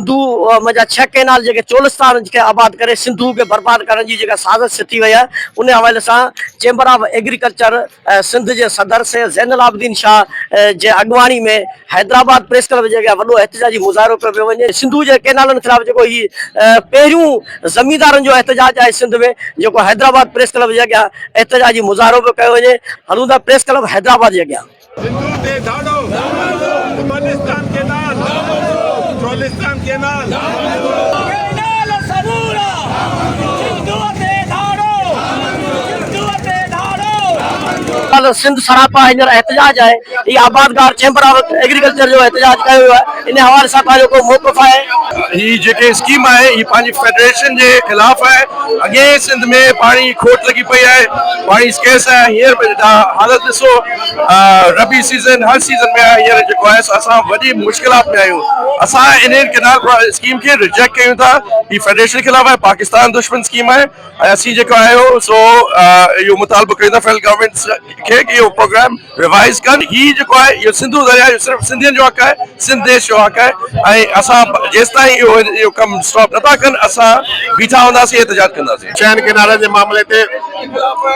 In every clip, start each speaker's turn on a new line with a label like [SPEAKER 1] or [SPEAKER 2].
[SPEAKER 1] سنڌو ۾ جا ڇهه ڪئنال جيڪي چولستان کي آباد ڪري سنڌو کي برباد ڪرڻ جي جيڪا سازش سٿي وئي آهي ان حوالي سان چيمبر آف ايگريڪلچر سنڌ جي صدر سيد زين العابدين شاهه جي اڳواڻي ۾ حيدرآباد پريس ڪلب جي اڳيان وڏو احتجاجي مظاهرو ڪيو پيو وڃي سنڌو جي ڪئنالن خلاف جيڪو هي پهريون زميندارن جو احتجاج آهي سنڌ ۾ جيڪو حيدرآباد پريس ڪلب جي اڳيان احتجاجي مظاهرو پيو ڪيو وڃي هلون ٿا پريس ڪلب حيدرآباد جي اڳيان. سنڌو تي ڌاڙو، Balochistan canal, Cholistan canal. Canal Sindh سراپا هينئر احتجاج آهي هي آبادگار چيمبر آف ايگريڪلچر جو احتجاج ڪيو ويو آهي انهي حوالي سان پنهنجو ڪو موقف آهي. هي جيڪي
[SPEAKER 2] اسڪيم آهي هي پنهنجي فيڊريشن جي خلاف آهي اڳيئي سنڌ ۾ پاڻي جي کوٽ لڳي پئي آهي پاڻي اسڪيس آهي هينئر به تها حالت ڏسو. ربي سيزن هر سيزن ۾ هينئر جيڪو آهي سو اسان وڏي مشڪلات ۾ آهيون اسان انهي ڪينال اسڪيم کي رجيڪٽ ڪيون ٿا هي فيڊريشن خلاف آهي پاڪستان دشمن اسڪيم آهي ۽ اسين جيڪو آهي سو اهو مطالبو ڪيون ٿا فيڊرل گورنمينٽ کي ڪي اهو پروگرام ريوائز ڪن هي جيڪو آهي اهو سنڌو درياء جو صرف سنڌين جو حق آهي سنڌ ديش جو حق آهي ۽ اسان جيستائين اهو ڪم اسٽاپ نٿا ڪن اسان بيٺا هونداسين احتجاج ڪنداسين چئن ڪئنالن جي معاملي
[SPEAKER 3] تي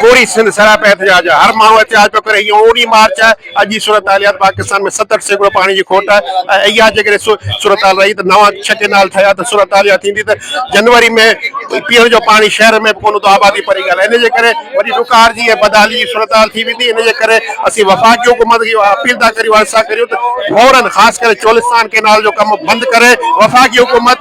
[SPEAKER 3] پوري سنڌ سراپا احتجاج آهي، هر ماڻهو احتجاج پيو ڪري، هي اونهي مارچ آهي، اڄ جي صورتحاليات پاڪستان ۾ ستهٺ سيڪڙو پاڻي جي کوٽ آهي ۽ اها جيڪڏهن صورتحال رهي ته نوان ڇهه ڪئنال ٺهيا ته صورتحال اها ٿيندي ته جنوري ۾ پيئڻ جو پاڻي شهر ۾ به ڪونه هوندو آبادي پري ڳالهه آهي ان جي ڪري وڏي ڏڪار جي ۽ بدحالي جي صورتحال ٿي ويندي ان جي ڪري اسين وفاقي حڪومت کي اها اپيل ٿا ڪريون عرض ٿا ڪريون ته فورن خاص ڪري چولستان ڪئنال جو ڪم بند ڪري وفاقي حڪومت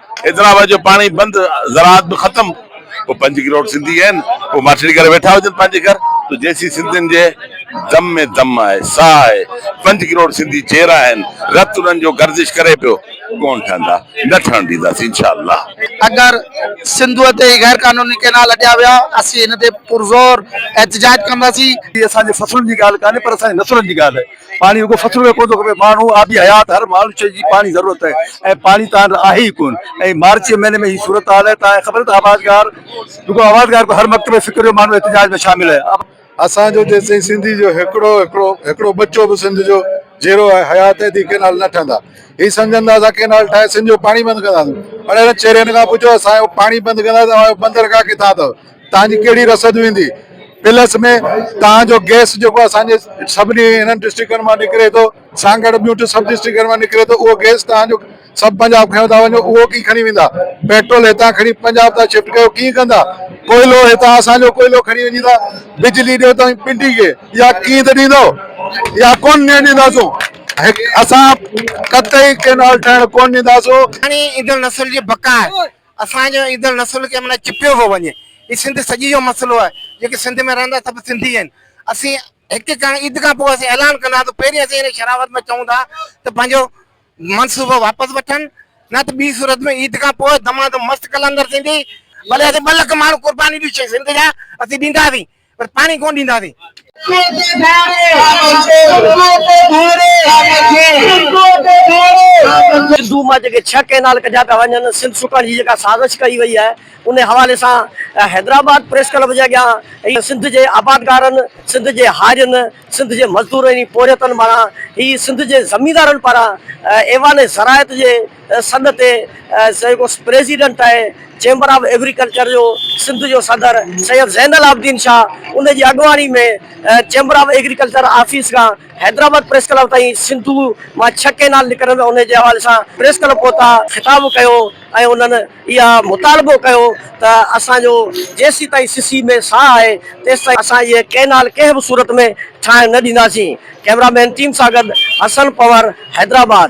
[SPEAKER 2] ايترا وقت جو پاڻي بند زراعت به ختم پوء پنج ڪروڙ سنڌي آهن پوء ماٺيڙي ڪري ويٺا هجن پنهنجي گهر تو جيسين سنڌين جي دم ۾ دم آهي ساهه آهي پنج ڪروڙ سنڌي چير آهن رت انهن جو گردش ڪري پيو ڪون ٺهندا نه ٺهڻ ڏينداسين انشاء الله. اگر
[SPEAKER 4] سنڌو تي هي غير قانوني ڪينال اڏيا ويا اسين ان تي پرزور احتجاج ڪنداسين. هي اسان جي فصلن جي
[SPEAKER 5] ڳالهه ڪانهي پر اسان جي نسلن جي ڳالهه آهي. پاڻي رڳو فصلن ۾ ڪونه ٿو کپي، ماڻهو آبي حيات هر ماڻهوشيء جي پاڻي ضرورت آهي ۽ پاڻي تان آهي ئي ڪونه ۽ مارچ جي مهيني ۾ هي صورتحال آهي تان خبر ته آبادگار رڳو آبادگار ڪو هر مڪتب ۽ فڪر جو ماڻهو احتجاج ۾ شامل آهي. اسان جو جيسين
[SPEAKER 6] سنڌي جو هڪڙو هڪڙو هڪڙو ٻچو به سنڌ جو جيرو آهي حيات ايڌي ڪينال نه ٺهندا هي سمجهن ته اسان ڪينال ٺاهي سنڌ جو پاڻي بند ڪنداسون اڙي هنن چيرين کان پڇو اسان جو پاڻي بند ڪندا ته اوهان جو بندرگاهه ڪٿان اٿو توهان جي ڪهڙي رسد ويندي پلس ۾ توهان جو گئس جيڪو اسان جي سڀني هنن ڊسٽرڪٽن مان نڪري ٿو سان گڏ ٻيون ٽي سب ڊسٽرڪٽن مان نڪري ٿو اهو گئس توهان جو سڀ پنجاب کڻيو ٿا وڃو اهو ڪي کڻي ويندا پيٽرول هتان کڻي پنجاب ٿا شفٽ ڪيو ڪي ڪندا ڪوئلو هتان اسان جو ڪوئلو کڻي وڃي ٿا بجلي ڏيو توهين پنڊي کي يا ڪي ته ڏيندو يا ڪون ڏيڻ ڏينداسون اسان قطعي ڪينال ٺهڻ ڪون ڏينداسون هاڻي ايندڙ نسل
[SPEAKER 4] جي بقا اسان جو ايندڙ نسل ڪنهن معنيٰ چپيو پيو وڃي. هي سنڌ سڄي جو مسئلو آهي. جيڪي سنڌ ۾ رهندا سڀ سنڌي آهن. اسين هڪ ڪڻ عيد کان پوء اسين اعلان ڪنداسون پهرين اسين هن شرارت ۾ چئون ٿا ته پنهنجو منصوبو واپس وٺن نه ته ٻي صورت ۾ عيد کان پوء دمادم مست قلندر ٿيندي ڀلي اسين ٻه لک ماڻهو قرباني به سنڌ جا اسين ڏينداسين. پر پاڻي ڪونه ڏينداسين.
[SPEAKER 1] سنڌو مان جيڪي ڇهه ڪئنال ڪڍيا پيا وڃن، سنڌ سڪڻ جي جيڪا سازش ڪئي وئي آهي، انهي حوالي سان حيدرآباد پريس ڪلب جي اڳيان سنڌ جي آبادگارن، سنڌ جي هارين، سنڌ جي مزدورن ۽ پورهيتن مان هي سنڌ جي زميندارن پاران ايوان زراعت جي سڏ تي جيڪو پريزيڊنٽ آهي چيمبر آف ايگريڪلچر جو سنڌ جو صدر سيد زين العابدين شاهه ان جي اڳواڻي ۾ چيمبر آف ايگريڪلچر آفيس کان حيدرآباد پريس ڪلب تائين سنڌو مان ڇهه ڪينال نڪرن ان جي حوالي سان پريس ڪلب پهتا خطاب ڪيو ۽ انهن اها مطالبو ڪيو ته اسان جو جيسيتائين سسي ۾ ساهه آهي تيستائين اسان هيء ڪينال ڪنهن به صورت ۾ ٺاهڻ نه ڏينداسين ڪئميرا مين ٽيم سان گڏ حسن پنور حيدرآباد.